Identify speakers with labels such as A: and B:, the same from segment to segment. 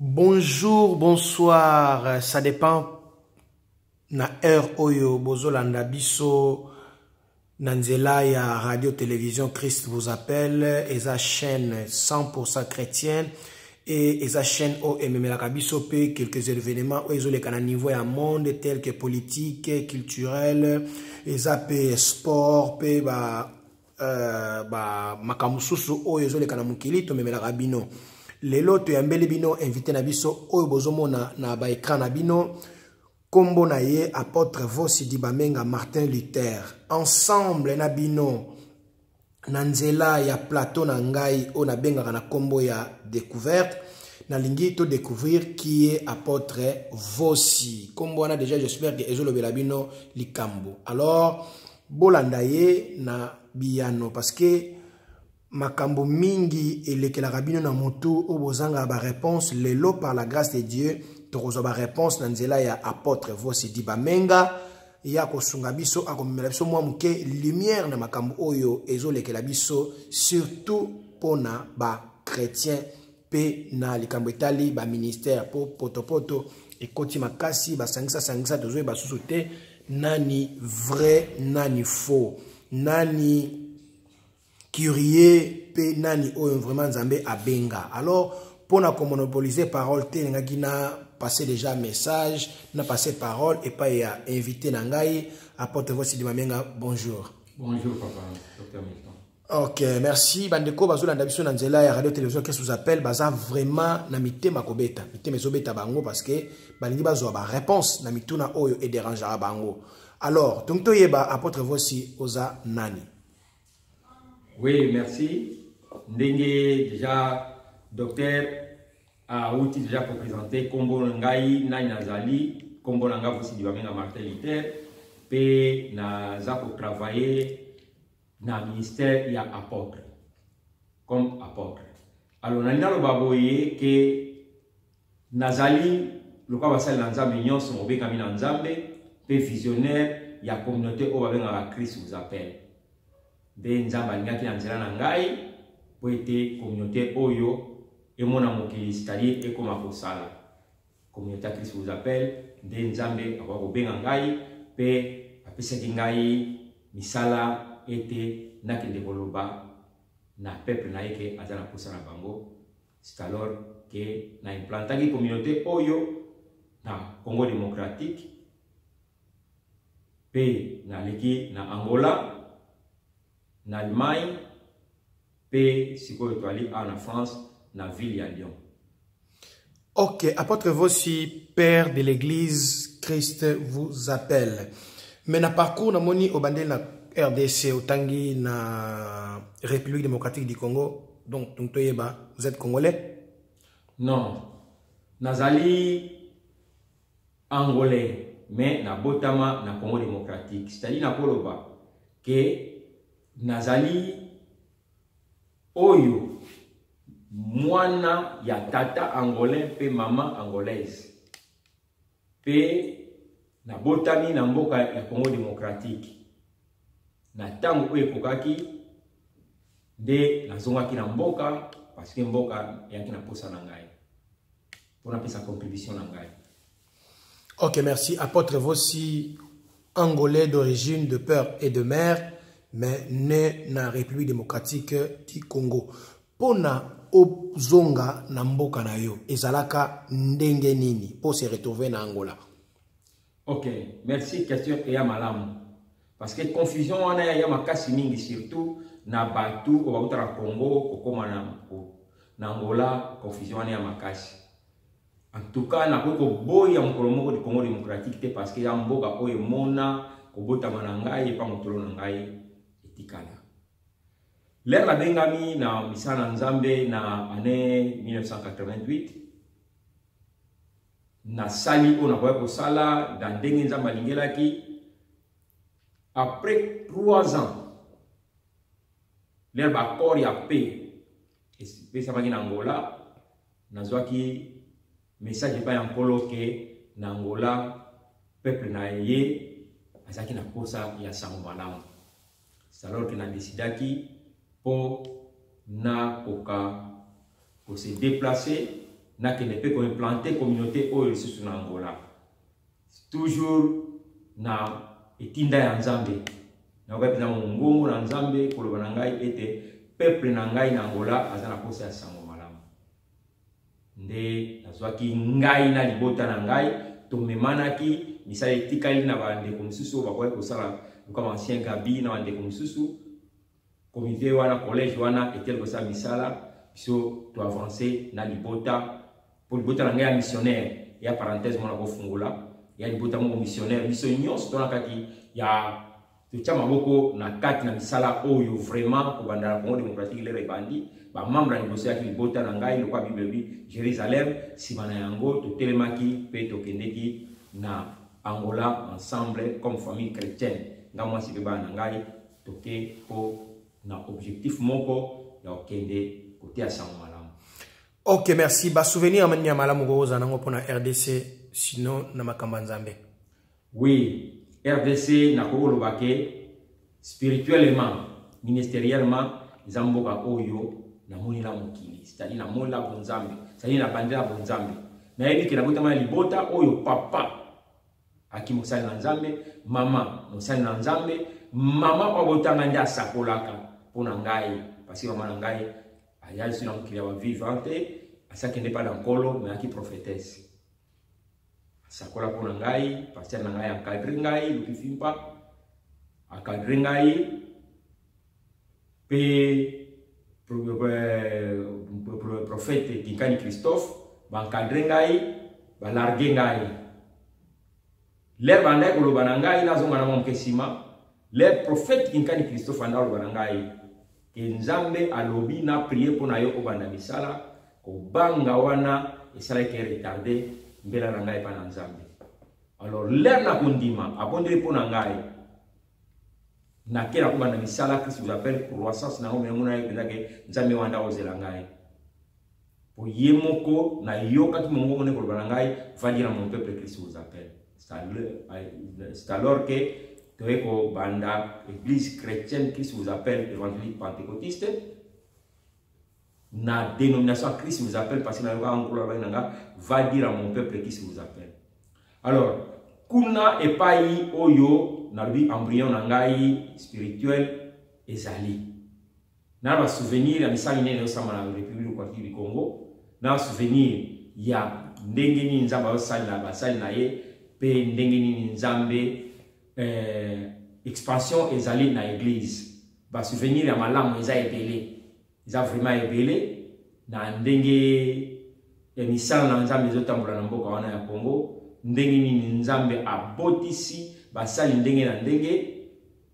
A: Bonjour, bonsoir, ça dépend na heure oyo bozolanda biso na nzela ya radio télévision Christ vous appelle eza chaîne 100% chrétienne et eza chaîne oyo ememelaka biso mpe quelques événements oyo ezoleka na niveau ya monde tel que politique culturel eza mpe sport mpe ba Euh, ba makambo mosusu oyo ezoleka na mokili tomemelaka bino lelo toyambeli bino invité na biso oyo bozomona na baekran na bino nkombo na ye apôtre vosidi bamenga martin luther ensemble na bino na nzela ya plateau na ngai oyo nabengaka na nkombo ya découverte nalingi todécouvrir qui est apôtre vosi nkombo wana déjà j'espère que ezolobela bino likambo alors Bolanda ye na biyano parce que makambo mingi elekelaka bino na motu oyo bozangaka bareponse lelo par la grâce de dieu tokozwa bareponse na nzela ya apôtre vosidi bamenga ye akosunga biso akomemela biso mwa moke lumière na makambo oyo ezolekela biso surtout mpo na bachrétien mpe na likambo etali baministère mpo potopoto ekoti makasi basangisasangisa tozwi basusu te nani vrai nani faux nani curieux mpe nani oyo vraiment nzambe abenga alors mpo na komonopolise parole te elingaki na passe déjà message na passe parole epai ya invité na ngai apotre vosidimamenga bonjour bonjour papa dr
B: milton Ok, merci.
A: Bandeko, bazo landa biso na nzela ya radio télévision qui sous appel, baza vraiment na mitema kobeta. Mitema ezo beta bango parce que balingi bazo ba réponse na mituna oyo et dérangera bango. Alors, donc to yeba apôtre voici oza nani.
B: Oui, merci. Ndenge déjà docteur a outi déjà ko présenter kombo ngai nani nazali, kombo nanga voici du bamenga Martin Luther pe na za ko travailler na ministère ya apôtre comme apôtre alors nalingi naloba boye ke nazali lokola basali na nzambe nyonso mobengami na nzambe mpe visionnaire ya communauté oyo babengaka christ vous appelle nde nzambe alingaki na nzela na ngai mpo ete communauté oyo emona mokili c'est-à-dire ekoma kosala Communicatrice vous appelle nde Nzambe akoka kobenga ngai mpe apesaki ngai misala ete nakende koloba na peuple na ye ke aza na mposa na bango c'est alors ke na implantaki communauté oyo na Congo démocratique mpe naleki na Angola na Allemagne Pe sikoyo toali awa na France na ville ya Lyon.
A: Ok, apôtre Vosi, père de l'église, Christ vous appelle. Mais na parcours na moni obandeli na RDC otangi na République démocratique du Congo, donc donc toyeba, vous êtes congolais? Non.
B: Nazali angolais mais na botama na Congo démocratique. C'est-à-dire na koloba que Nazali oyo mwana ya tata angolais mpe mama angolaise mpe nabotami na mboka ya Congo demokratiki. Na ntango oyo ekokaki nde nazongaki na mboka parceke mboka eyaki na mposa na ngai mpo napesa contribution na ngai Ok,
A: merci. Apôtre Vossi, angolais d'origine, de père et de mère, mais né na République démocratique du Congo. Pona ozonga na mboka na yo, ezalaka ndenge nini pour se retrouver na Angola? Ok,
B: merci. Question et malamu. Parce que confusion wana ya makasi mingi surtout na batu obakuta na Congo kokoma na Angola, confusion wana ya makasi. En tout cas, nakoki koboya mokolo moko du Congo démocratique te parce que ya mboka oyo emona kobotama na ngai epa motolo na ngai etikala. Lere nabengami na misala na Nzambe na année 1988 nasali oyo nakoki kosala na ndenge Nzambe alingelaki après trois ans lere baaccord ya paix epesamaki na Angola Nazwaki message epai ya Nkolo ke na Angola peuple na ye azalaki na mposa ya sango malamu. Alors que na decidaki mpo nakoka kose deplacer nakende mpe koimplante communauté oyo lisusu na Angola. toujours na etinda ya nzambe nakokaki na mongongo na nzambe koloba na ngai ete peuple na ngai na angola aza na posa ya sango malamu nde nazwaki ngai na libota na ngai tomemanaki misala etikali na bandeko mosusu oyo bakokaki kosala loka bancien gabi na bandeko mosusu comité wana collège wana etele kosala misala biso to avancer na libota mpo libota na ngai ya missionnaire ya parenthèse mona kofungola ya libota moko missionnaire biso nyonso tona kati ya totya maboko na kati na misala oyo vraiment kobanda na congo démocratique lere ebandi bamembre ya liboso yaki libota na ngai lokwa bible elobi jérusalem nsima na yango totelemaki mpe tokendeki na angola ensemble comme famille chrétienne nga mwasi mpe bana na ngai toke po na objectif moko ya kokende koteya sango malamu ok
A: merci basouvenir ya manini ya malamu kokozala nango mpo na rdc sinon na makambo ya nzambe oui
B: rdc nakoki koloba ke spirituellement ministeriellement eza mboka oyo namonela mokili cetadi namonela bonzambe cetadi nabandela bonzambe nayebi ke nabotama ya libota oyo papa Aki mosali na Nzambe, mama mosali na Nzambe, mama oyo abotanga nde asakolaka mpo na ngai, parce mama na ngai ayali soki na mokili ya bavivante, asi akende mpa na nkolo me ayaki prophetese. Asakola mpo na ngai, pasteur na ngai akadre ngai, lokifi mpa akadre ngai, mpe profete kinkani christophe bankadre ngai balarge ngai lere bandaki koloba na ngai nazonga na mwa moke nsima lere profete kinkani christophe anda koloba na ngai ke nzambe alobi na prie mpo na yo obanda misala kobanga wana esalaki retarde mbela na ngai epai na nzambe alors lere na kondima abondeli mpo na ngai na ke nakoba na misala que vous appelle croissance na ngome yango nayebi mpenza ke nzambe wana ndako ozela ngai mpo ye moko nayokaki mongongo nde koloba na ngai va dire mon peuple christ vous appelle c'est alors que toye kobanda église chrétienne christ vous appelle évangélique pentecotiste na dénomination ya christ vous appelle parce que nayokaka nkolo alobaki na nga va dire à mon peuple christ vous appelle alors kuna epai oyo nalobi embryon na ngai spirituel ezali na basouvenir ya misali nene osamba na république kwaki du congo na basouvenir ya ndenge nini nzambe azosalela basali na ye mpe ndenge nini nzambe eh, expansion ezali na eglise Ba souvenir ya malamu eza ebele. Eza vraiment ebele na ndenge ya misala na Nzambe ezotambola na mboka wana ya Congo, ndenge nini Nzambe abotisi basali ndenge na ndenge.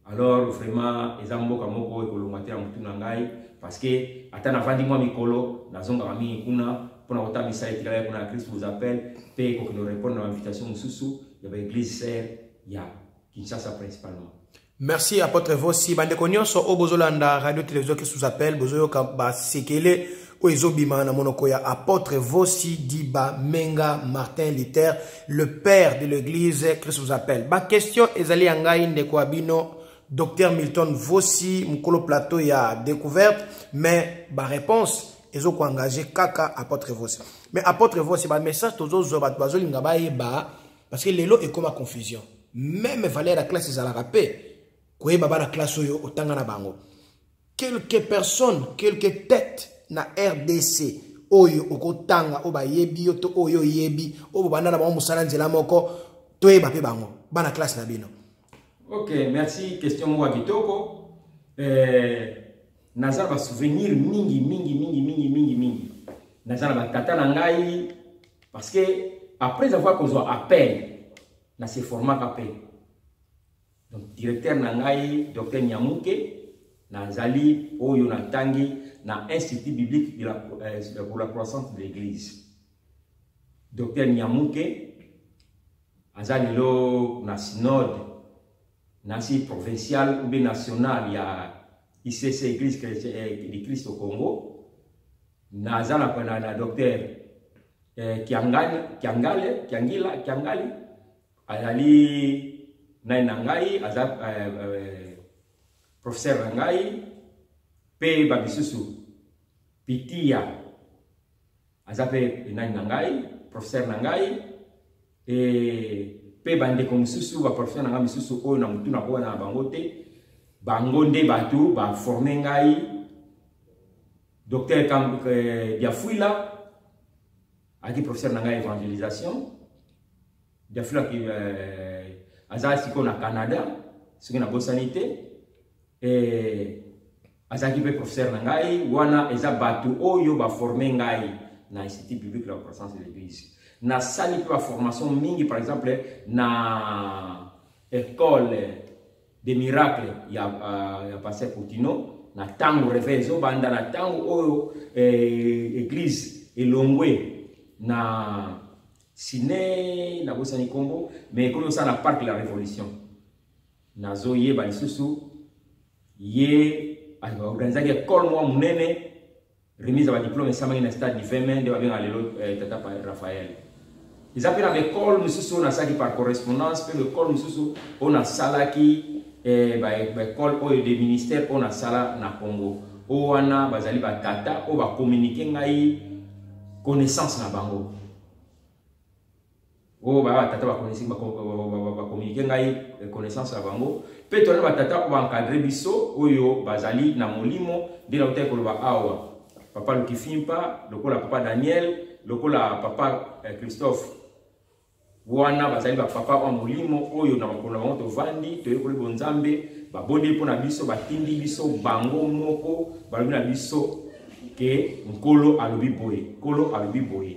B: Alors vraiment eza mboka moko ekolongwa te na mutu na ngai parce que ata navandi mwa mikolo nazongaka mingi kuna mpona kotambisa etikala kuna ya christ vous appelle mpe ekoki norepondre na invitation mosusu ya baeglise sere ya kinshasa principalement Merci Apotre
A: Vossi. Bandeko nyonso oyo bozolanda radio television qui sous appel bozoyoka basekele oyo ezobima na monoko ya Apotre Vossi Diba Menga Martin Luther, le père de l'église qui sous appel. Ba question ezali ya ngai ndeko ya bino Dr Milton Vossi mokolo plateau ya découverte mais ba réponse ezokoengage kaka Apotre Vossi. Mais Apotre Vossi ba message tozozwa bato bazolinga bayeba parce que lelo ekoma confusion meme valeur ya classe ezalaka mpe koyeba bana classe oyo otanga na bango quelque personne quelque tête na rdc oyo okotanga oyo bayebi yo to oyo oyebi oyo bobanda na bango mosala nzela moko toyeba mpe bango bana classe na bino Ok,
B: merci. Question moko kitoko. Eh, naza ba souvenir mingi mingi mingi mingi mingi mingi. Naza na tata na ngai parce que après avoir kozwa appel na se format appel. Donc directeur na ngai Dr Nyamuke nazali oyo na tangi na Institut biblique de la, euh, pour la croissance de l'église. Dr Nyamuke aza lelo na synode nasi provincial ou bien national ya ICC Église eh, du Christ au Congo naza na na, na docteur eh, Kiangani Kiangale Kiangila Kiangali azali nani na ngai aza eh, eh, professeur na ngai mpe bamisusu pitia aza pe enani na ngai professeur na ngai e, pe bandeko mosusu baprofesseur na ngai misusu oyo na motu nakowana na bango te bango nde bato baforme ngai docteur eh, diafuila ayaki professeur na ngai évangélisation diafuila eh, aza sikoyo na canada soki nabosani te eh, azalaki mpe professeur na ngai wana eza bato oyo baforme ngai na institut biblique la croissance de l'église nasali mpe baformation mingi par exemple na école de miracle ya, uh, ya pasteur poutino na ntango reveil ezobanda na ntango oyo eh, église elongwe na sine nabosani nkombo mais ekomi osala na parc la révolution Nazo yeba lisusu ye organisaki ekole mwa monene remise ya badiplome esamaki na stade du feme nde babengaka lelo eh, tata raphael eza mpe na baekole mosusu oyo nasalaki par correspondance mpe baekole mosusu oyo nasalaki eh, baekole oyo de ministère oyo nasala na congo oyo wana bazali batata oyo bakominike ngai connaissance na bango oyo oh, baya batata bakonisi bakominike ngai eh, connaissance na bango mpe tozali batata oyo baencadre biso oyo bazali na molimo nde nautaki koloba awa papa lukifimpa lokola papa daniel lokola papa eh, christophe wana bazali bapapa oyo molimo oyo na makolo na bango tovandi toyekoli bonzambe babondeli mpo na biso batindi biso bango moko balobi na biso ke nkolo alobi boye nkolo alobi boye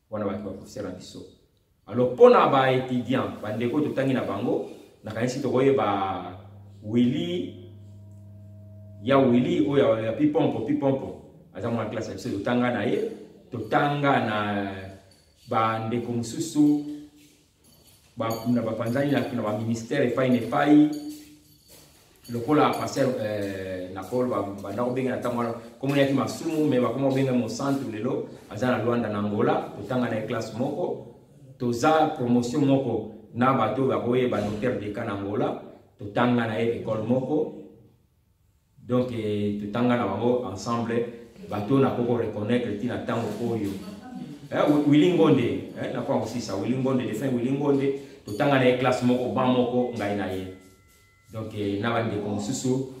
B: wana bato bakosela biso alors mpo na baétudiant bandeko oyo totangi na bango nakanisi tokoyeba willi ya willi oyo ya pipompo pipompo aza mwana classe ya biso totanga na ye totanga na bandeko mosusu na bapanzani na baministère epai na epai lokola pasteur eh, na paul banda kobenga na ntango wana komona yaki masumu me bakoma kobenga mosantu lelo aza na lwanda na angola totanga na ye classe moko toza promotion moko na bato oyo bakoyeba notaire deka na angola totanga na ye ekole moko Donc eh, totanga na bango ensemble bato oyo nakoki koreconnaitre ntina ntango oyo eh, wili ngonde eh, nakoka kosisa wili ngonde defin wili ngonde totanga na ye classe moko ban moko ngai na ye donc eh, na bandeko mosusu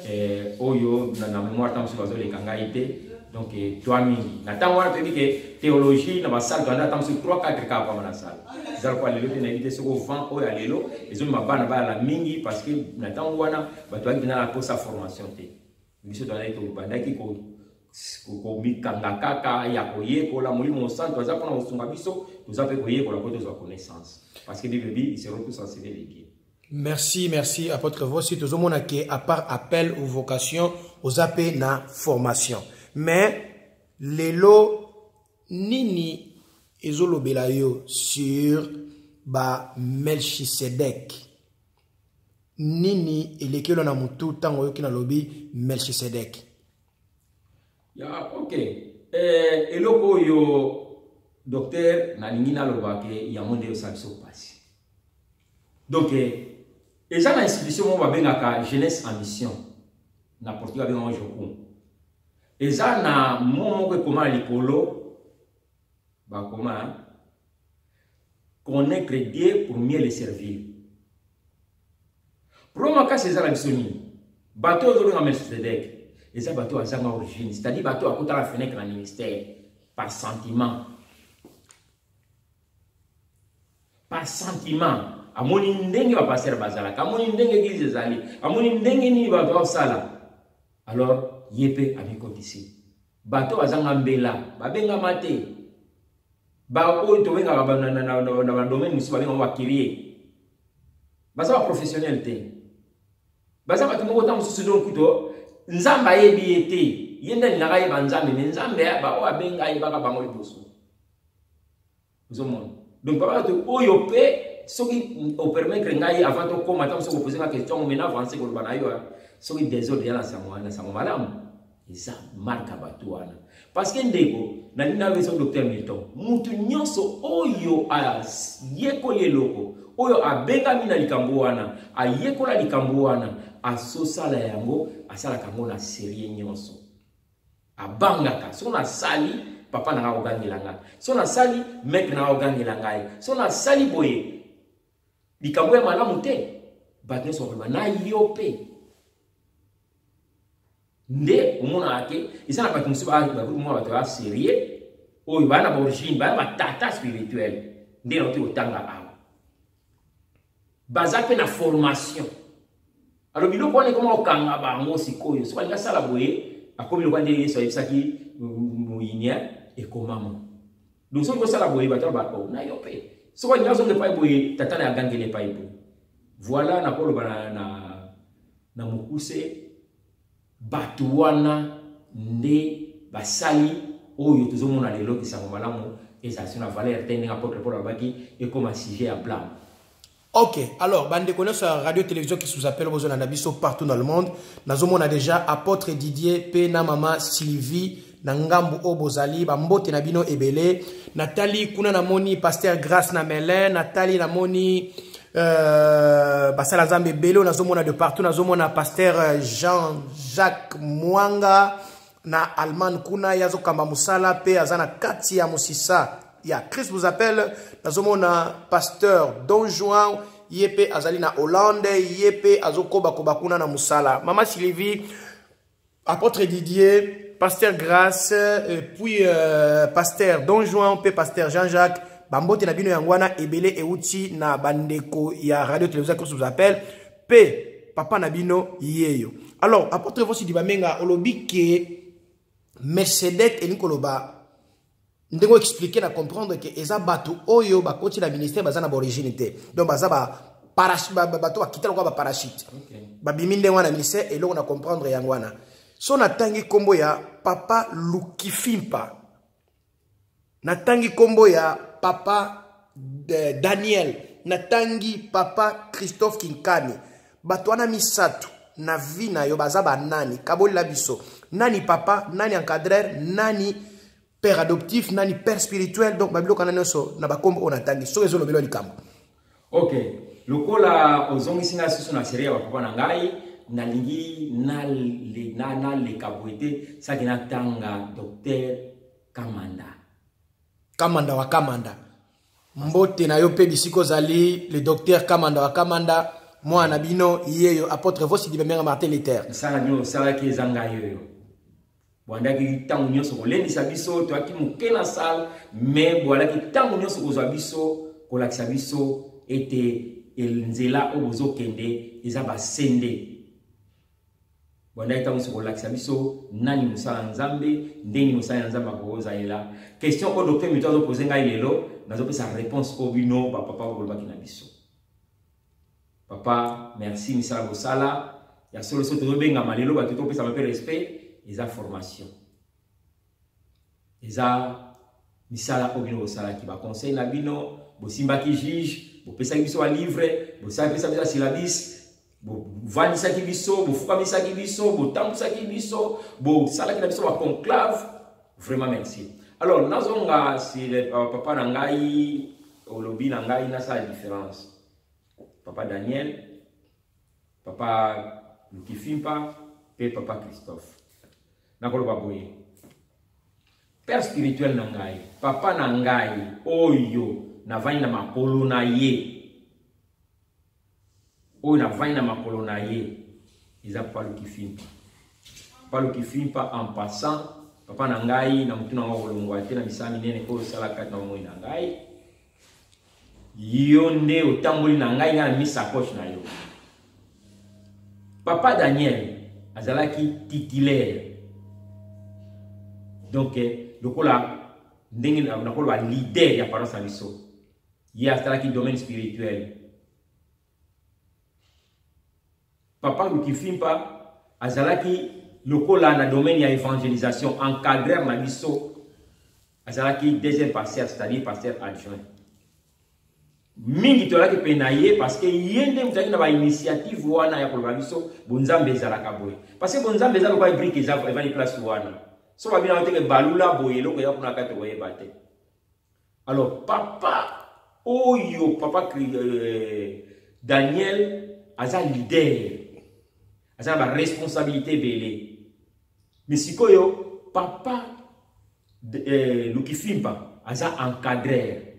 B: eh, oyo na, na memoire ntango mosusu bazoleka ngai te donc eh, toi mingi na ntango wana toyebi ke théologie na basale toanda ntango mosusu 3 4 kaka kwama na sale eza lokola lelo te nayebi te soko vent oyo ya lelo ezomema bana bayala mingi parce que na ntango wana bato yangi na posa formation te biso tozalaki tobandaki komikanga kaka ya koyekola molimo mosantu aza mpona kosunga biso toza mpe koyekola mpo tozwa connaissance parce que bible bi isero tous enseigné de dieu merci merci
A: apôtre vosi tozomona ke à part appel ou vocation oza mpe na formation mais lelo nini ezolobela yo sur ba melchisedek nini elekelo na mutu ntango oyoki nalobi melchisedek
B: ya ok eh, eloko oyo docteur nalingi naloba ke yango nde osala biso mpasi donc eh, eza na institution moko babengaka jeunesse en mission na portugais abengaka jokum eza na mo moko ekoma na likolo bakoma connaître dieu pour mieux le servir pro makasi eza na biso nini bato oyo ozobenga melchisedek eza bato azanga origine c'est-à-dire bato akotala fenêtre na ministère par sentiment par sentiment amoni ndenge bapastere bazalaka amoni ndenge eglize ezali amoni ndenge nini bato baosala alors ye mpe amikotisi Bato bazanga mbela babengama te, baoyo tobengaka na badomaine mosusu babengama bakirie, baza baprofessionnel te, baza bato moko ntango mosusu donc kuto nzambe ayebi ye te ye nde alingaka ayeba nzambe me nzambe oyo abenga ayebaka bango liboso ozomona donc papa bato oyo mpe soki opermettre ngai avant tokóma ntango soki opose nga question yango mena avance koloba na yo soki desordre ya na sango wana sango malamu eza marka bato wana parce que ndeko nalingi nayo ezo docteur milton motu nyonso oyo ayekoli eloko oyo abengami na likambo wana ayekola likambo wana asosala yango asalaka yango na serie nyonso abangaka soki nasali papa na ngai akogangela ngai soki nasali maitre na ngai akogangela ngai soki nasali boye likambo ya malamu te bato nyonso bakoloba na yo mpe nde omonaka te eza na bato mosusu bakutumona bato ya serieux oyo baa na baorigine baa na batata spirituel nde nauti kotanga awa baza mpe na formation alo biloko wana ekoma kokanga bango sikoyo soki alingi asala boye akomi lokola nde yesu ayebisaki moyinia ekomama donc soki osala boye bato ya bako na yo mpe soki alingi azonga epai boye tata na agangeli epai boye voilà nakoloba na, na, na mokuse Bato wana nde basali oyo tozomona lelo kisango malamu ezalaki na valeur te ndenge apotre paul alobaki ekoma sujet ya blame ok
A: alors bandeko nyonso ya radio télévision kisuzapele bozolanda biso partout dans le monde nazomona déjà apôtre didier mpe na mama sylvie na ngambo oyo bozali bambote na bino ebele natali kuna namoni paster grace na melin natali namoni euh, basala nzambe ebele oyo nazomona de partout nazomona paster euh, jean jacques mwanga na allemagne kuna ye azokamba mosala mpe aza na kati ya mosisa ya christ vous appelle nazomona pasteur don juan ye mpe azali na hollande ye mpe azokobakoba kuna na mosala mama sylvie Apôtre Didier, Pasteur Grace, et puis euh, Pasteur Don Juan, puis Pasteur Jean-Jacques, bambote na bino yango wana ebele euti na bandeko ya radio télévision koso vous appelle pe papa na bino yeyo alors apôtre vosi dibamenga olobi ke mercedes elingi koloba ndenge o expliquer na comprendre que eza bato oyo bakoti na ministère baza na baorigine te donc baza ba bato bakita lokola baparachute babimi ndenge wana ministère eloko na comprendre yango wana so natangi nkombo ya papa lukifimpa natangi nkombo ya papa eh, daniel natangi papa christophe kinkani bato wana misato na vie na yo baza banani kabolela biso nani papa nani encadreur nani père adoptif nani père spirituel donc babiloko wana nyonso na bakombo oyo natangi soki ezolobelwa likambo ok
B: lokola ozongisi ngai susu na serie ya bapapa na ngai nalingi naleka boye te saki natanga docteur kamanda
A: kamanda wa kamanda mbote na yo mpe bisika ozali le docteur kamanda wa kamanda mwana na bino yeyo apôtre vosidi bambenga martin luther misala nio osalaki
B: eza ngai yoyo boandaki ntango nyonso kolendisa biso toyaki moke na sale me boalaki ntango nyonso kozwa biso kolakisa biso ete nzela oyo bozokende eza basende bwandaki ntango nyonso kolakisa biso nani mosala ya nzambe ndenge mosala ya nzambe akozalela question oyo docteur mito azopose ngai lelo nazopesa réponse oyo bino bapapa bokolobaki na biso papa merci misala bosala ya solo so tozobengama lelo bato topesama mpe respect eza formation eza misala oyo bino bosalaki baconseil na bino bosimbaki juge bopesaki biso balivre bosapesa biso basilabis bovandisaki biso bofukamisaki biso botambusaki biso bosalaki na biso baconclave vraiment merci alors nazonga sur eh, papa na ngai olobi na ngai nasala différence papa daniel papa lukifimpa mpe papa christophe Nakoloba boye, père spirituel na ngai, papa na ngai oyo navandi na makolo na ye, oyo navandi na makolo na ye, eza papa Lukifimpa. Papa Lukifimpa en passant, papa na ngai na motuna yango kolongwa te na misala minene oyo osala kati na bomoi na ngai. yo nde otamboli na ngai ngai namisi sacoche na yo papa daniel azalaki titulaire donc eh, lokola ndenge nakoloba leader ya paroisse na biso ye asalaki domaine spirituel Papa Lukifimpa azalaki lokola na domaine ya evangelisation encadreur na biso azalaki deuxième pasteur c'est-à-dire pasteur adjoint mingi tolaki mpe na ye parce que ye nde mozalaki na bainitiative wana ya koloba biso bonzambe ezalaka boye parce que bonzambe eza lokola brike evandi place wana so babina oteke balula boye eloko eza kuna kati okoyeba te Alors papa oyo papa euh, Daniel aza leader aza na baresponsabilité ebele mais sikoyo papa eh, lukifimpa aza encadrer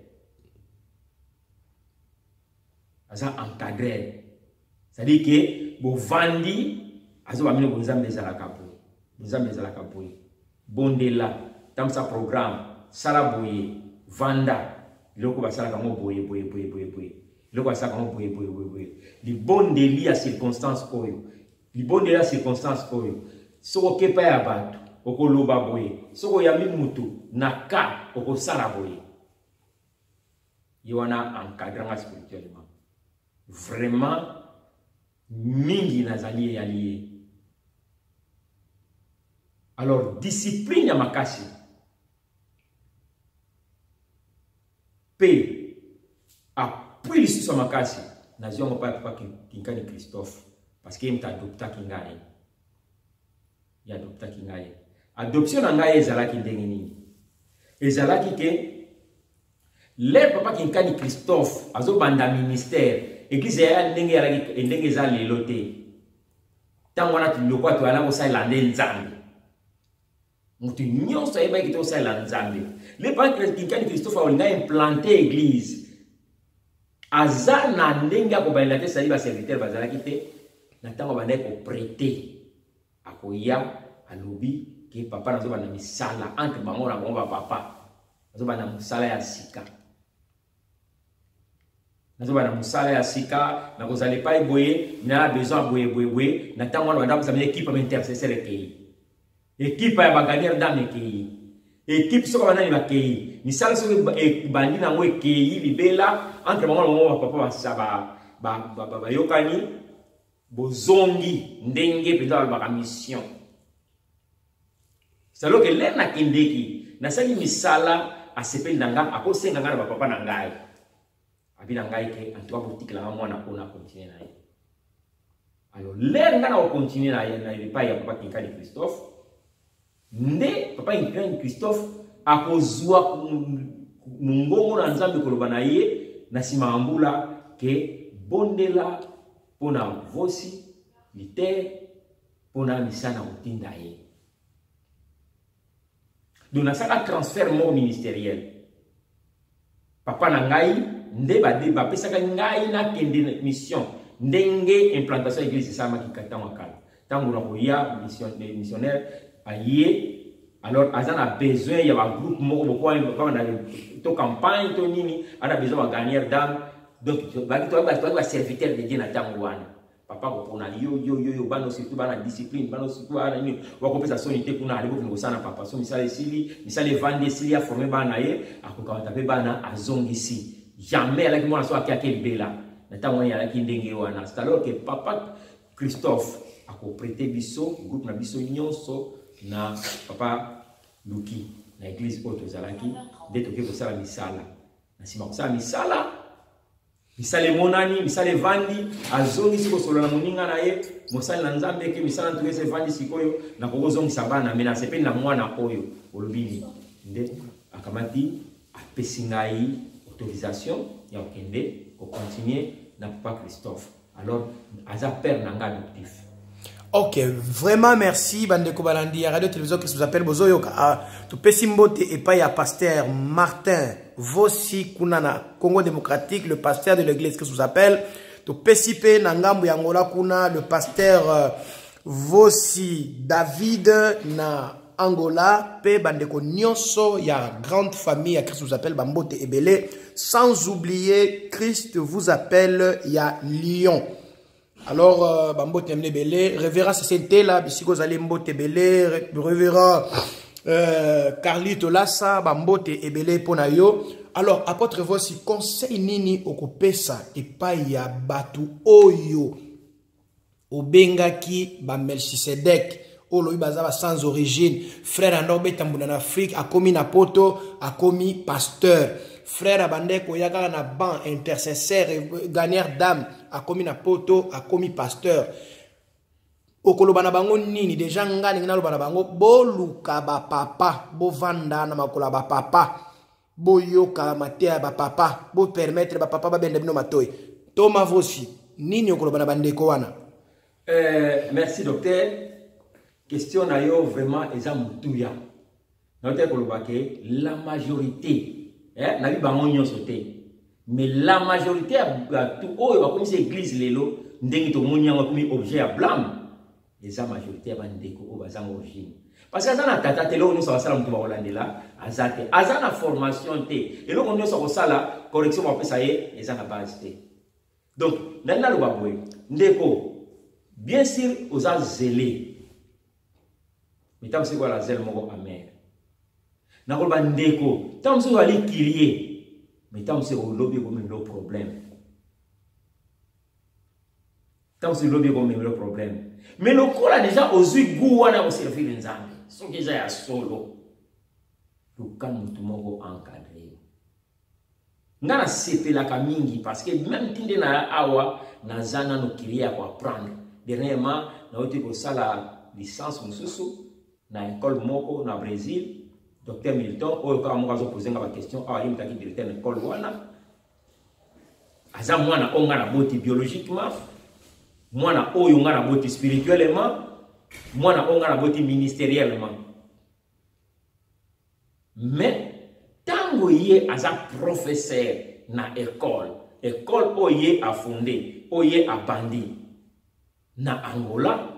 B: aza encadrer C'est-à-dire que bovandi azo bamino bonzambe ezalaka boye bonzambe ezalaka boye bondela tambusa programme sala boye vanda biloko basalaka yango boye boye boye boye boye biloko basalaka yango boye boye boye boye libondeli ya circonstance oyo libondeli ya circonstance oyo soki okepa ya bato okoloba boye soki oyambi motu na ka okosala boye ye wana encadre nga spirituellement vraiment mingi nazali eyali ye alors discipline ya makasi mpe apui lisusu ya makasi nazwi yango mpa papa kinkani christophe parce que ye moto adoptaki ngai ye adoptaki ngai adoption na ngai ezalaki ndenge nini ezalaki ke lere papa kinkani christophe azobanda ministère eglize ya ndenge yalaki ndenge eza lelo te ntango wana lokwa toyala kosalela nde nzambe moto nyonso ayebaki kite kosalela nzambe le papa kinkani christophe aolinga implante église aza na ndenge ya kobalela te sali baserviteur bazalaki te na ntango abandaki koprete akoya alobi ke papa nazobanda misala entre bango na bango bapapa nazobanda mosala ya sika nazobanda mosala ya sika nakozala epai boye na besoin ya boye boye boye na ntango wana banda kozala ekipe ya baintercesseur ekei ekipe ya baganiere ndame ekei ekipe soki banani bakei misala soki ebandi na yango ekei libela entre bango na bango bapapa bayokani bozongi ndenge mpenza balobaka mission saloke lere nakendeki nasali misala asepeli na ngai akosenga ngai na bapapa na ngai abi na ngai ke antuka botikela ngai mwana oyo nakontinue na ye alors lere ngai nakokontinue na ye na epai ya papa kinkali christophe nde papa Ukraine Christophe akozua mongongo na Nzambe koloba na ye na nsima ya mbula ke bondela mpo na vosi litere mpo na misana kotinda ye donc nasala transfert moko ministeriel papa na ngai nde bapesaka ngai nakende na mission ndenge implantation ya eglise esalamaki ntango ya kala ntango na koya missionnaire aye alors aza na besoin ya bagroupe moko bokoana to campagne to nini ana besoin bagagnere dame donc baserviteur de dieu na ntango wana papa kopona yo yo yo yo bana surtout bana discipline bana surtout bana nini wakopesa soni te kuna alebokende kosala na papa so misala esili misala evandi esili aforme bana ye akokamata mpe bana azongisi jamais alaki mwana so ake ake libela na ntango wana alaki ndenge wana c'est alors que papa christophe akoprete biso groupe na biso nyonso na papa luki na eglise oyo tozalaki nde tokoki kosala misala na nsima kosala misala misala emonani misala evandi azongisi kosolola na moninga na ye mosali na nzambe eke misala ntuka esi evandi sikoyo nakoki kozongisa bana me nasepeli na mwana oyo olobi nini nde akamati apesi ngai autorisation ya kokende kocontinue na papa christophe alors aza père na ngai adoptif ok
A: vraiment merci bandeko balandi ya radio télévision christ vous appelle bozoyoka ah, topesi mbote epai ya pasteur martin vosi kuna na congo démocratique le pasteur de l'église christ vous appelle topesi mpe na ngambo ya ngola kuna le pasteur euh, vosi david na angola mpe bandeko nyonso ya grande famille ya christ vous appelle bambote ebele sans oublier christ vous appelle ya lyon alors euh, bambote na bino ebele révérend sese ntela bisika ozali mbote ebele révérend euh, carli tolasa bambote ebele mpo na yo alors apôtre voici conseil nini okopesa epai ya bato oyo obengaki bamelchisedek oyo lobi baza ba sans origine frère anda obeta mbunda na afrique akomi na poto akomi pasteur frère abandaki koya kaka na banc intercesseur gagneur dame akomi na poto akomi pasteur okoloba na bango nini deja ngai ndenge naloba na bango boluka bapapa bovanda na makolo ya bapapa boyoka mateya ya bapapa bopermettre bapapa babenda bino matoi to mavosi nini okoloba na bandeko wana euh,
B: merci docteur question na yo vraiment eza motuya naotaki koloba ke la majorité eh, nayebi bango nyonso te mais la majorité ya bato oyo bakomisi église lelo ndenge tomoni yango akomi objet ya blame eza majorité ya bandeko oyo bazanga origine parce que aza na tata te eloko nyonso akosala moto bakolandela aza te aza na formation te eloko nyonso akosala correction bakopesa ye eza na base te donc nani naloba boye ndeko bien sûr oza zele mitango sikoyo ala zele moko amere nakoloba ndeko ntango mosusu ozali kirie mitango mosusu olobi ekomi lo problème kasi lobi ekomemelo problème mais lokola deja ozwi goût wana ya koservire nzambe soki eza ya solo luka motu moko encadre yo nga nasepelaka mingi parce que meme ti nde na awa naza nano kirie ya koapprendre dernièrement nauti kosala licence mosusu na école moko na brésil docteur milton oyo kaka moko azopoze nga baquestion awa ye motaki directeur na école wana aza mwana oyo ngai naboti biologiquement mwana oyo ngai naboti spirituellement mwana oyo ngai naboti ministeriellement mais ntango ye aza professeur na ekole ekole oyo ye afonde oyo ye abandi na Angola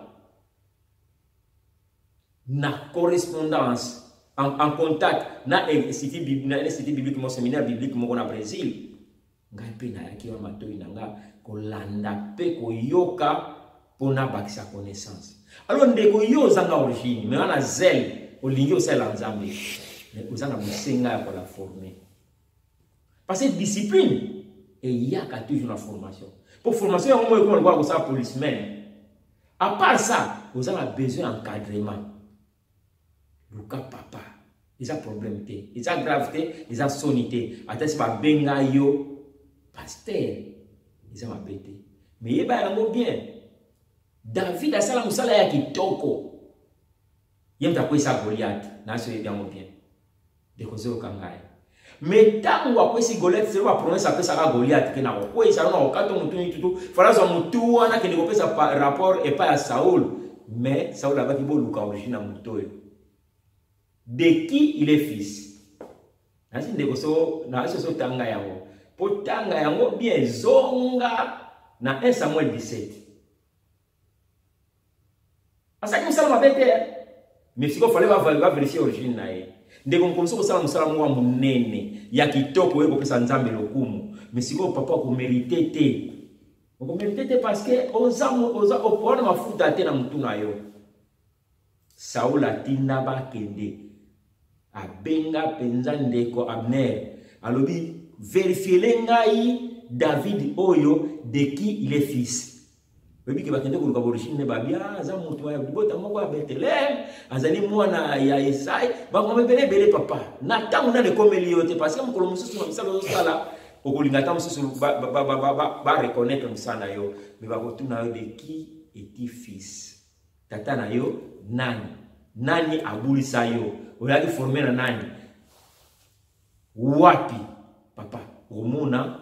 B: na correspondance en, en contact na institut biblique na institut biblique mon séminaire biblique moko na Brésil ngai mpe nayaki na matoi na ngai kolanda mpe koyoka mpo nabakisa connaissance alors ndeko yo ozanga origine me wana zele olingi osalela nzambe me oza na bosenga ya kola forme Parce que discipline eyaka toujours na formation. Pour formation yango moyo ekoma lokola kosala policeman. À part ça, oza na besoin encadrement. Luka papa. Eza problème te. Eza grave te, eza soni te. Ata si babenga yo pasteur, eza mabe te. Mais yeba yango bien. David asala mosala ya kitoko. ye moto akwesa goliate nasi oyebi yango bien ndeko ozoyoka ngai me ntango akwesi goliate selo bapromese apesaka goliate ke nakokwesa yo nakokato motu nitutu fala azwa motu wana kende kopesa rapport epai ya saul me saul abaki boluka origine ya moto oyo de qui il est fils nasi ndeko so nasi oso otanga yango mpo tanga yango bien zonga na 1 samuel 17 asalaki mosala mabe te eh. mais sikoyo fale baverifie origine na ye ndeko mokomisi kosala mosala moko ya monene ya kitoko oye kopesa nzambe lokumu mais sikoyo papa okomerite te okomerite te parce que oza oza opona mafuta te na motu na yo Saul atinda bakende abenga mpenza ndeko Abner alobi verifiele ngai David oyo de qui il est fils oyebi ke bakende koluka borigine ne babia ah, aza moto ya libota moko ya beteleme azali mwana ya esai bango ebele ebele papa na ntango nani ekomeli yo te parce que mokolo mosusu na misala ozosala okolinga ata mosusu bareconnaitre mosala na yo me bakotuna yo de qui eti fils tata na yo nani nani abulisa yo oyaki forme na nani wapi papa okomona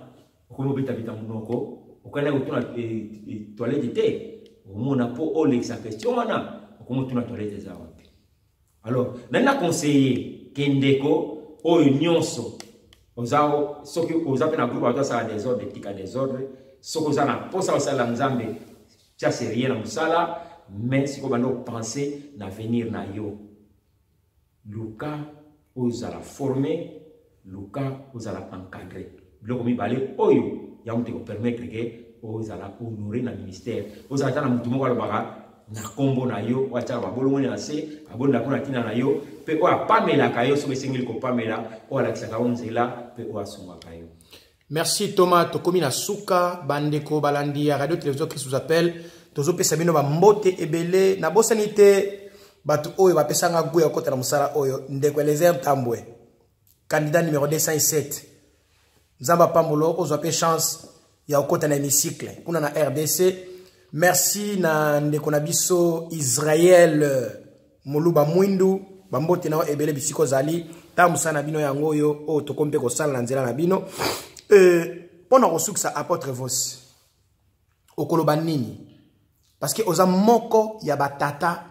B: okomi obetabeta monoko okani kotuna eh, eh, toilette te okomona mpo olekisa question wana okomi otuna toilette eza wana Alors, nani na conseiller ke ndeko oyo nyonso oza soki oza mpe na groupe bato asala desordre etika desordre soki oza na mposa osalela nzambe tia serie na mosala mais sikoyo banda opense na avenir na yo luka ozala forme luka ozala encadre biloko mibale oyo yango te kopermettre ke ozala honore na ministère ozala ata na motu moko alobaka na nkombo na yo oyo atyaka babolongoni na se abonda mpo na ntina na yo mpe oyo apamelaka yo soki esengeli kopamela oyo alakisaka yo nzela mpe oyo asungaka yo merci thomas
A: tokomi na suka bandeko balandi ya radio télévision christ vous appelle tozopesa bino bambote ebele nabosani te bato oyo bapesanga gwe ya kokota na mosala oyo ndeko elezer ntambwe candidat numéro 207 nzambe apambolo ozwa mpe chance ya kokota na hémicycle kuna na rdc merci na ndeko na biso israel moluba mwindu bambote na yo ebele bisika ozali ntango mosala na bino yango oyo oyo tokomi mpe kosala na nzela na bino mpo na kosukisa apotre vosi okoloba nini parce que oza moko ya batata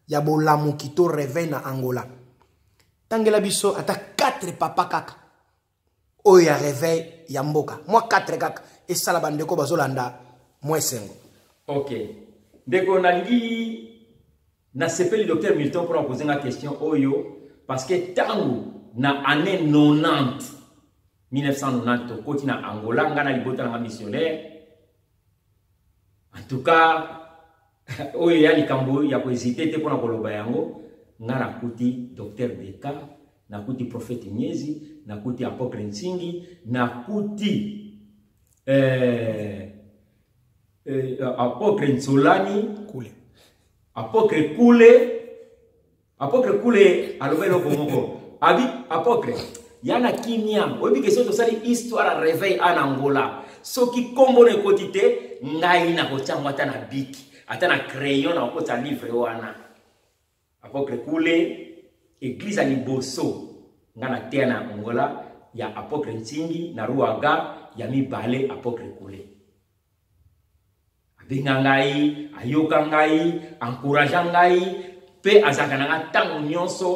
A: ya bolamuki to reveil na angola tangela biso ata 4 papa kaka oyo ya reveil ya mboka mwa 4 kaka esala bandeko bazolanda mwa esengo ok
B: ndeko nalingi nasepeli docteur milton mpona kozenga question oyo parce que ntango na année 90 1990 tokoti na angola ngai na libota na ngai missionnaire en tout cas oyo ya likambo ya koezite te mpo na koloba yango nga nakuti docteur deka nakuti prophète miezi nakuti apôtre nsingi nakuti eh, eh, apôtre nsolani kule
A: apôtre
B: kule Apotre Kule aloba eloko moko. Abi apotre yana kimia oyebi ke soki tosali histoire ya reveil ana angola soki nkombo na ekoti te ngai nakotya yango ata na biki ata na crayon na kokotisa livre wana apotre kule eglize ya liboso ngai nateya na angola ya apotre ntingi na ruaga ya mibale apotre kule abenga ngai ayoka ngai encouragea ngai mpe azalaka na nga ntango nyonso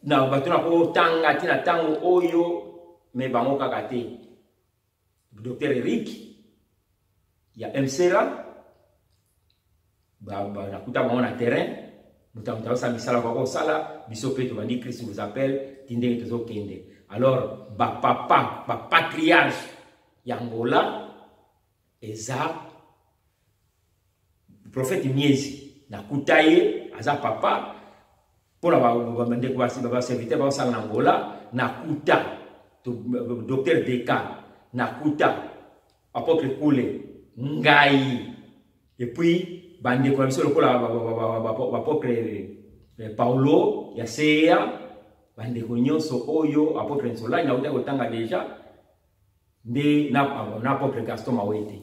B: na bato na kotanga te na ntango oyo me bango kaka te docteur eric ya msera nakuta bango na terrain moto moto ayosa misala kwa kosala biso mpe tobandi christ vous appelle ti ndenge tozokende alors bapapa bapatriarge ya ngola eza prophète miezi nakuta ye aza papa mpo na bandeko baserviteur baosala na ngola nakuta docteur deka nakuta apotre kule ngai epuis bandeko na biso lokola bapotre eh, paulo ya seya bandeko nyonso oyo apotre nsolani nauta kotanga deja nde na apotre gaston mawete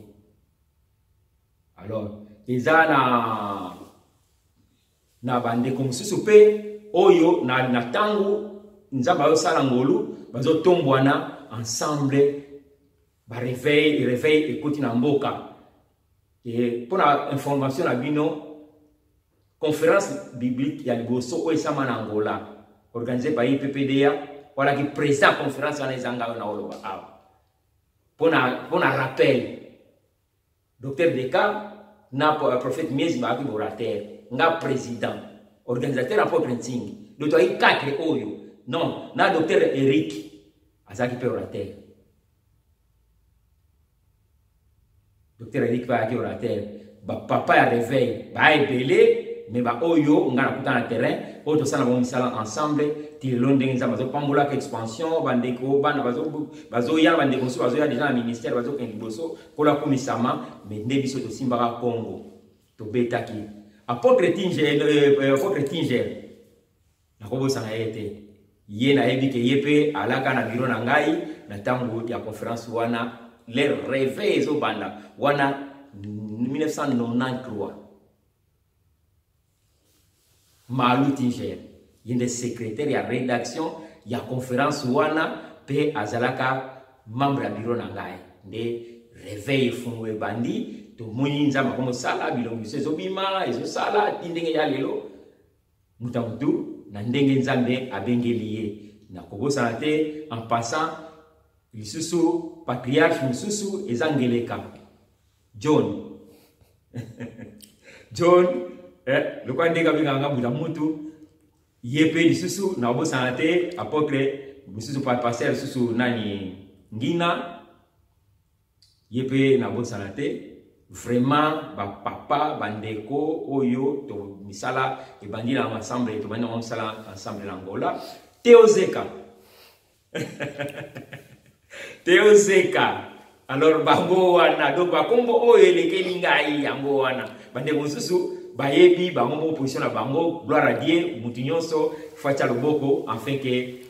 B: alors eza na na bandeko mosusu mpe oyo na, na ntango nzambe ayosala ngolu bazotombwana ensemble bareveil reveil ekoti na mboka mpo na information na bino conférence biblique ya liboso oyo esama na angola organise bayi ppda walaki président ya conférence wana ezanga oyo na oloba awa mpo na rappel Docteur Beckham na euh, prophète Miezi ba ki orateur, nga président, organisateur à propre Nsingi. Donc toi il quatre oyo. Non, na docteur Eric azaki pe orateur. Docteur Eric ba ki orateur. Ba papa ya réveil, ba ebele mais ba oyo nga na kuta na terrain, oyo tosala bango misala ensemble, ti lelo ndenge nzambe azopambolaka expansion bandeko bana bazoya bandeko mosusu bazoya deja na ministère bazokende liboso Nkolo akumisama, mais nde biso tosimbaka Congo. Tobetaki. Apotre Tinger, euh, euh, euh, apotre Tinger. Nakobosana ye te. Ye nayebi ke ye pe alaka na biro na ngai na ntango ya conference wana le reve ezobanda wana 1993 Malu Tinger, ye nde secrétaire ya rédaction ya conférence wana mpe azalaka membre ya biro na ngai nde reveil efungo ebandi tomoni nzambe ako mosala bilongo biso ezobima ezosala ti ndenge ya lelo moto ya motu na ndenge nzambe abengeli ye nakobosana te en passant lisusu patriarche mosusu eza ngeleka John. John, eh, lokola ndenge abengaka nga buta mutu, ye mpe lisusu nakobosana te apotre mosusu pasteur lisusu nani ngina ye mpe nabosana te vraiment bapapa bandeko oyo to misala ebandi na ensemble tobandi na misala ensemble na angola teozeka teo zeka alors bango wana donc bakombo oyo elekeli ngai yango wana bandeko mosusu bayebi bango moko position na bango gloire à dieu motu nyonso fatia loboko enfin ke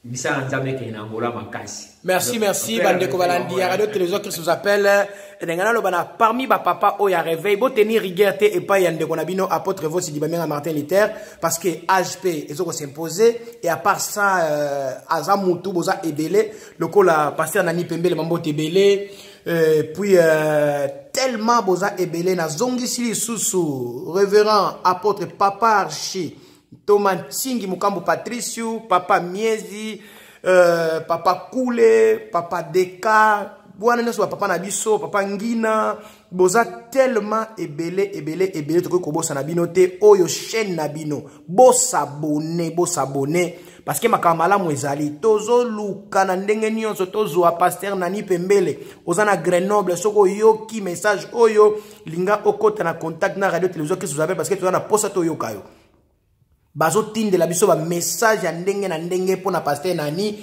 B: misala nzambe ekende na angola makasi merci merci
A: bandeko balandi ya radio télévision christ vous appelle ndenge naloba na parmi bapapa oyo ya réveil boteni rigueur te epai ya ndeko na bino apôtre vosidi bamenga martin luther parce que age mpe ezo kosimpose et à part ça euh, aza mutu boza ebele lokola paster nani pembele mambote ebele euh, puis euh, tellement boza ebele nazongisi lisusu révérend apôtre papa archi Ntoma Nsingi Mukambo Patricio, Papa Miezi, euh, Papa Kule, Papa Deka, wana nyonso bapapa na biso papa ngina boza tellement ebele ebele ebele tokoki kobosana bino te oyo chaîne na bino bosabone bosabone parce que makambo malamu ezali tozoluka na ndenge nyonso tozwa paster nani pembele oza na grenoble soki oyoki message oyo linga okota na contact na radio télévision kristu zabe parce que toza na posa toyoka yo bazotindela biso bamessage ya ndenge na ndenge mpo na paster nani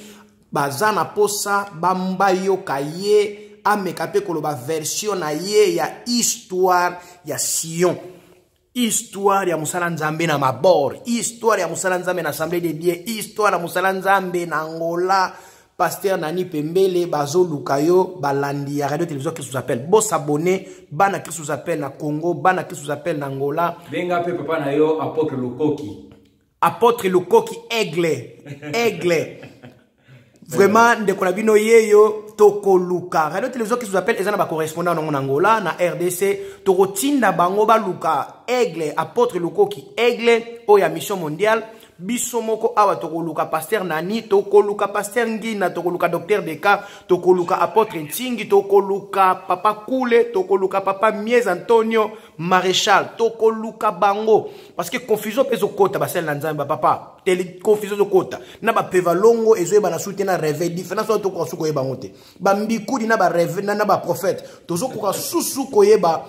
A: baza na posa bayoka ye ameka mpe koloba version na ye ya histoire ya sion histoire ya mosala nzambe na mabor histoire ya mosala nzambe na assemblée de dieu histoire ya mosala nzambe na angola pasteur nani pembele bazoluka yo balandi ya radio télévision christus appel bosabone bana christus appel na congo bana christus appel na angola benga mpe papa na yo
B: apotre lokoki Apotre
A: Lukoki Aigle. Aigle. Vraiment, ndeko na bino yeyo tokoluka. Radio Télévision qui vous appelle ezana ba correspondant en Angola na RDC tokotinda bango baluka Aigle Apotre Lukoki Aigle oya mission mondiale biso moko awa tokoluka paster nani tokoluka paster ngina tokoluka docteur deka tokoluka apotre ntingi tokoluka papa kule tokoluka papa mies antonio maréchal tokoluka bango parce que confusion mpe ezokota basali na nzambe bapapa tele confusion ezokota na bapeva longo ezoyeba na su te na réveil différence wana tokoka su koyeba yango te bambikudi na bareve na baprophète tozokoka susu koyeba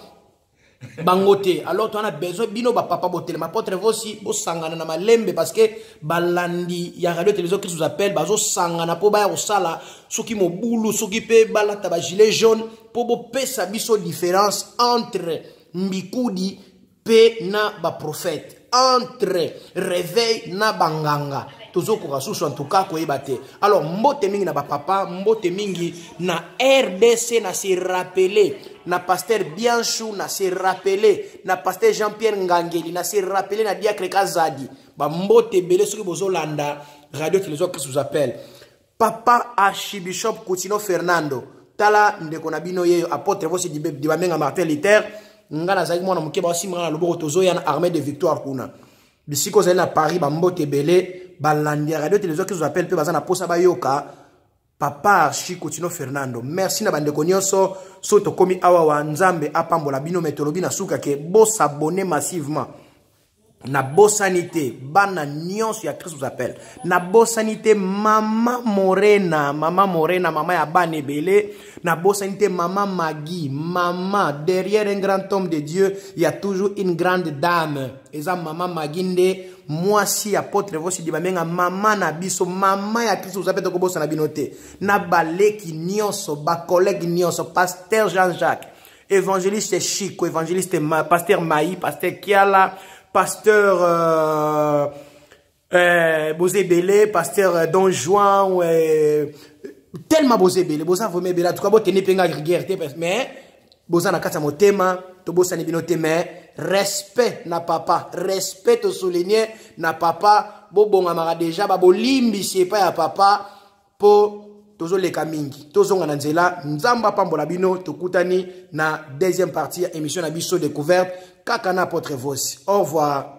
A: bango te alors towana besoin bino bapapa botelema apotre vosi bosangana na malembe parce que balandi ya radio télévision christ vous appelle bazosangana mpo baya kosala soki mobulu soki mpe balata bagilet jaune mpo bopesa biso différence entre mbikudi mpe na baprofete entre réveil na banganga tozokoka susu en tout cas koyeba te alors mbote mingi na bapapa mbote mingi na rdc na se rappele na pasteur bianchu na se rappele na pasteur jean pierre ngangeli na se rappele na diacre kazadi bambote ebele soki bozolanda radio télévision christus appel papa archibishop kutino fernando tala ndeko na bino yeyo apotre vosi dibamenga martin luther ngai nazalaki mwana moke baosimba ngai na loboko tozoya na armée de victoire kuna bisika ozali na paris bambote ebele balandi ya radio télévision kizo appel mpe baza na mposa bayoka papa archi kutino fernando merci na bandeko nyonso soki tokomi awa wa nzambe apambola bino me tolobi na suka ke bosabone massivement nabosani te bana nyonso ya christus appel nabosani te mama morena mama morena mama ya bana ebele nabosani te mama magi mama derrière un grand homme de dieu ya toujours une grande dame eza mama magi nde mwasi ya potre vosidi bamenga mama na biso mama ya kristu oza mpe tokobosana bino te na baleki nyonso bakolege nyonso paster jean jacques Evangeliste Chico, Evangeliste Ma, Pasteur Maï, Pasteur Kiala, Pasteur euh, euh, Bozebele, Pasteur euh, Don Juan, euh, tellement Bozebele, Boza vraiment ebele, en tout cas, botene penga guerre, mais Boza na kati ya motema, tobosani bino te, mais respect na papa, respect to souligner na papa, bobongamaka déjà, babolimbisi epai ya papa, mpo tozoleka mingi tozonga na nzela nzambe apambola bino tokutani na deuxième partie ya émission na biso découverte kaka na apotre vosi au revoir